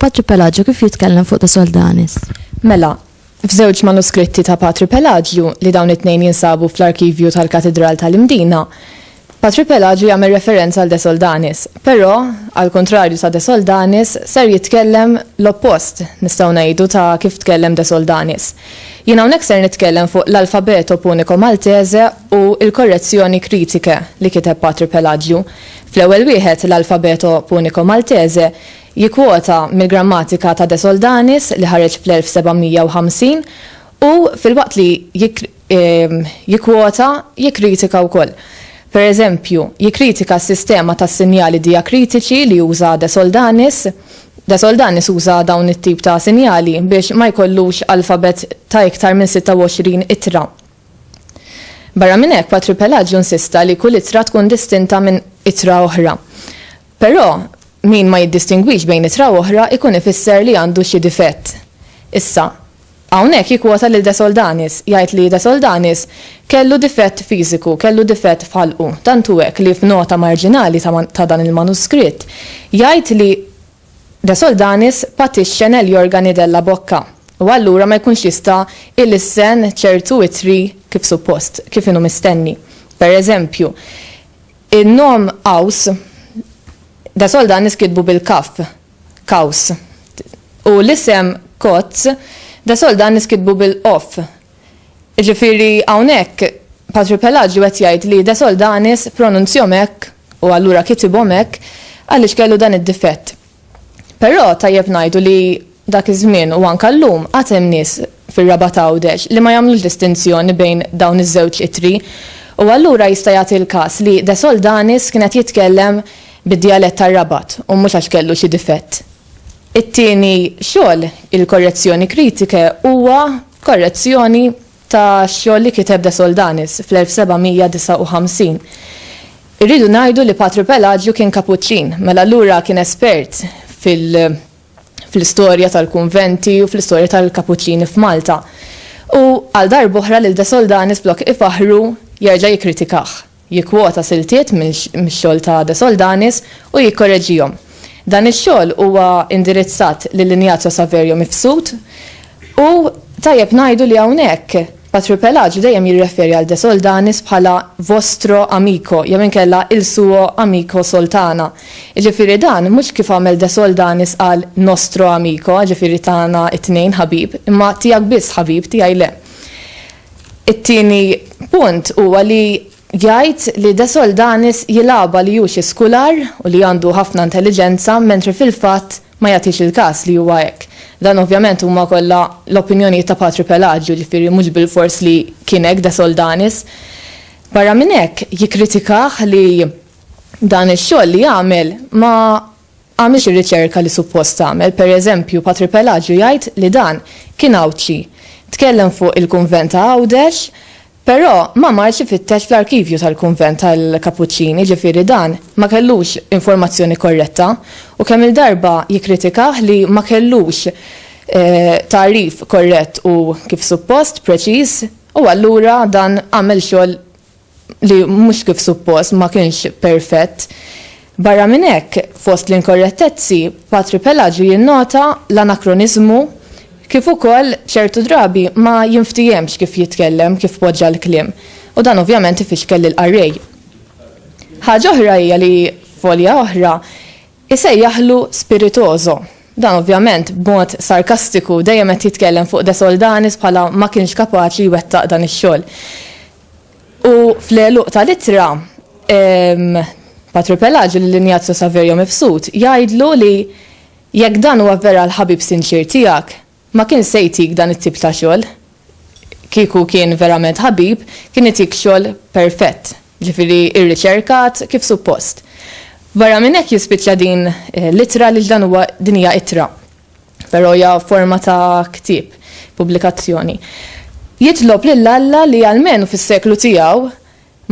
Patri Pelagio kif jitkellem fuq ta' Soldanis? Mela, f'żewġ manuskritti ta' Patri Pelagio li dawn it-tnejn jinsabu fl-arkivju tal-Katidral tal-Imdina, Patri Pelaġju jagħmel referenza għal De Soldanis, però, għall-kuntrarju ta' De Soldanis, ser jitkellem l-oppost, nistgħu ngħidu, ta' kif tkellem De Soldanis. Jien hawnhekk ser nitkellem fuq l-Alfabeto Punico Maltese u l-Correzioni Critiche li kiteb Patri Pelaġju. Fl-ewwel wieħed, l-Alfabeto Punico Maltese, jikkwota mill-grammatika ta' De Soldanis li ħareġ fl-1750 u, filwaqt li jikkwota, jikkritika wkoll. Pereżempju, jikkritika s-sistema tas-sinjali dijakritiċi li uża De Soldanis. De Soldanis uża dawn it-tip ta' sinjali biex ma jkollux alfabet ta' iktar minn 26 ittra. Barra minn hekk, Patri Pelaġju nsista li kull ittra tkun distinta minn ittra oħra. Però, min ma jiddistingwix bejn ittra u oħra jkun ifisser li għandu xi difett. Issa, Hawnhekk jikkwota lil De Soldanis, jgħid li De Soldanis kellu difett fiżiku, kellu difett f'ħalqu, tant hu hekk li f'nota marġinali ta' ta' dan il-manuskritt jgħid li De Soldanis patixxa negli organi della bocca u allura ma jkunx jista' ilissen ċertu ittri kif suppost, kif inhu mistenni. Per eżempju, in-nom Aus, De Soldanis kitbu bil-kaff, Kaws. U l-isem Kotz da sol dan niskitbu bil-qoff. Iġifieri hawnhekk Patri Pelaġju qed jgħid li da sol danis pronunzjom hekk u allura kitibhom hekk għaliex kellu dan id-difett. Però tajjeb ngħidu li dak iż-żmien u anke llum għad hemm nies fir-Rabat Għawdex li ma jagħmlux distinzjoni bejn dawn iż-żewġ ittri u allura jista' jagħti l-każ li da sol danis kien qed jitkellem bid-djalett tar-Rabat u mhux għax kellu xi difett. It-tieni xogħol, il-Correzioni critiche, huwa korrezzjoni ta' xogħol li kiteb De Soldanis fl-1759. Irridu ngħidu li Patru Pelaġju kien Kapuċċin, mela allura kien espert fil-istorja tal-kunventi u fl-istorja tal-Kapuċċini f'Malta. U għal darb'oħra lil De Soldanis flok ifaħħru jerġa' jikkritikah. jikkwota siltiet mix-xogħol ta' De Soldanis u jikkoreġihom. Dan ix-xogħol huwa indirizzat lil Ignazio Saverio Mifsud u tajjeb ngħidu li hawnhekk Patripelaġu dejjem jirreferi għal De Soldanis bħala vostro amico jew inkella il suo amico Soltana, jiġifieri dan mhux kif għamel De Soldanis qal nostro amico jiġifieri tagħna t-tnejn ħabib, imma tiegħek biss ħabib, tiegħi le. It-tieni punt huwa li jgħid li De Soldanis jilgħabha li hu xi skular u li għandu ħafna intelliġenza mentri fil-fatt ma jagħtix il-każ li huwa hekk. Dan ovvjament huma kollha l-opinjonijiet ta' Patri Pelaġju, jiġifieri mhux bilfors li kien hekk De Soldanis. Barra minn hekk jikkritikah li dan ix-xogħol li għamel ma għamilx ir-riċerka li suppost għamel, per eżempju Patri Pelaġju jgħid li dan kien Għawdxi, tkellem fuq il-kunvent ta' Għawdex, però ma marx ifittex fl-arkivju tal-kunvent tal-Kapuċċini, ġifieri dan ma kellux informazzjoni korretta u kemm-il darba jikkritikah li ma kellux tagħrif korrett u kif suppost, preċiż, u allura dan għamel xogħol li mhux kif suppost ma kienx perfett. Barra minn hekk, fost l-inkorrettezzi, Patri Pelaġju jinnota l-anakroniżmu kif ukoll ċertu drabi ma jinftiehemx kif jitkellem, kif poġġa l-kliem, u dan ovvjament ifixkel lill-qarrej. Ħaġa oħra hija li f'olja oħra isejjaħlu spiritoso. Dan ovvjament b'mod sarkastiku, dejjem qed jitkellem fuq De Soldanis bħala ma kienx kapaċi jwettaq dan ix-xogħol. U fl-għeluq tal-ittra, Patri Pelaġi lil Injazju Saverio Mifsud jgħidlu li jekk dan huwa vera l-ħabib sinċier tiegħek, ma kienx se jtik dan it-tip ta' xogħol. Kieku kien verament ħabib, kien itik xogħol perfett, jiġifieri rriċerkat kif suppost. Barra minn hekk jispiċċa din l-ittra għaliex dan huwa, din hija ittra. però hija forma ta' ktieb, pubblikazzjoni. Jitlob lil Alla li almenu fis-seklu tiegħu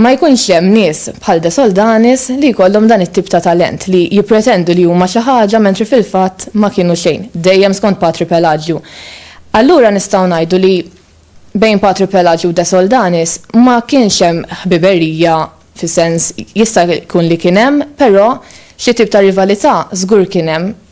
ma jkunx hemm nies bħal De Soldanis li jkollhom dan it-tip ta' talent, li jippretendu li huma xi ħaġa mentri fil-fatt ma kienu xejn, dejjem skont Patri Pelaġju. Allura nistgħu ngħidu li bejn Patri Pelaġju u De Soldanis ma kienx hemm ħbiberija fis-sens jista' jkun li kien hemm, però xi tip ta' rivalità żgur kien hemm.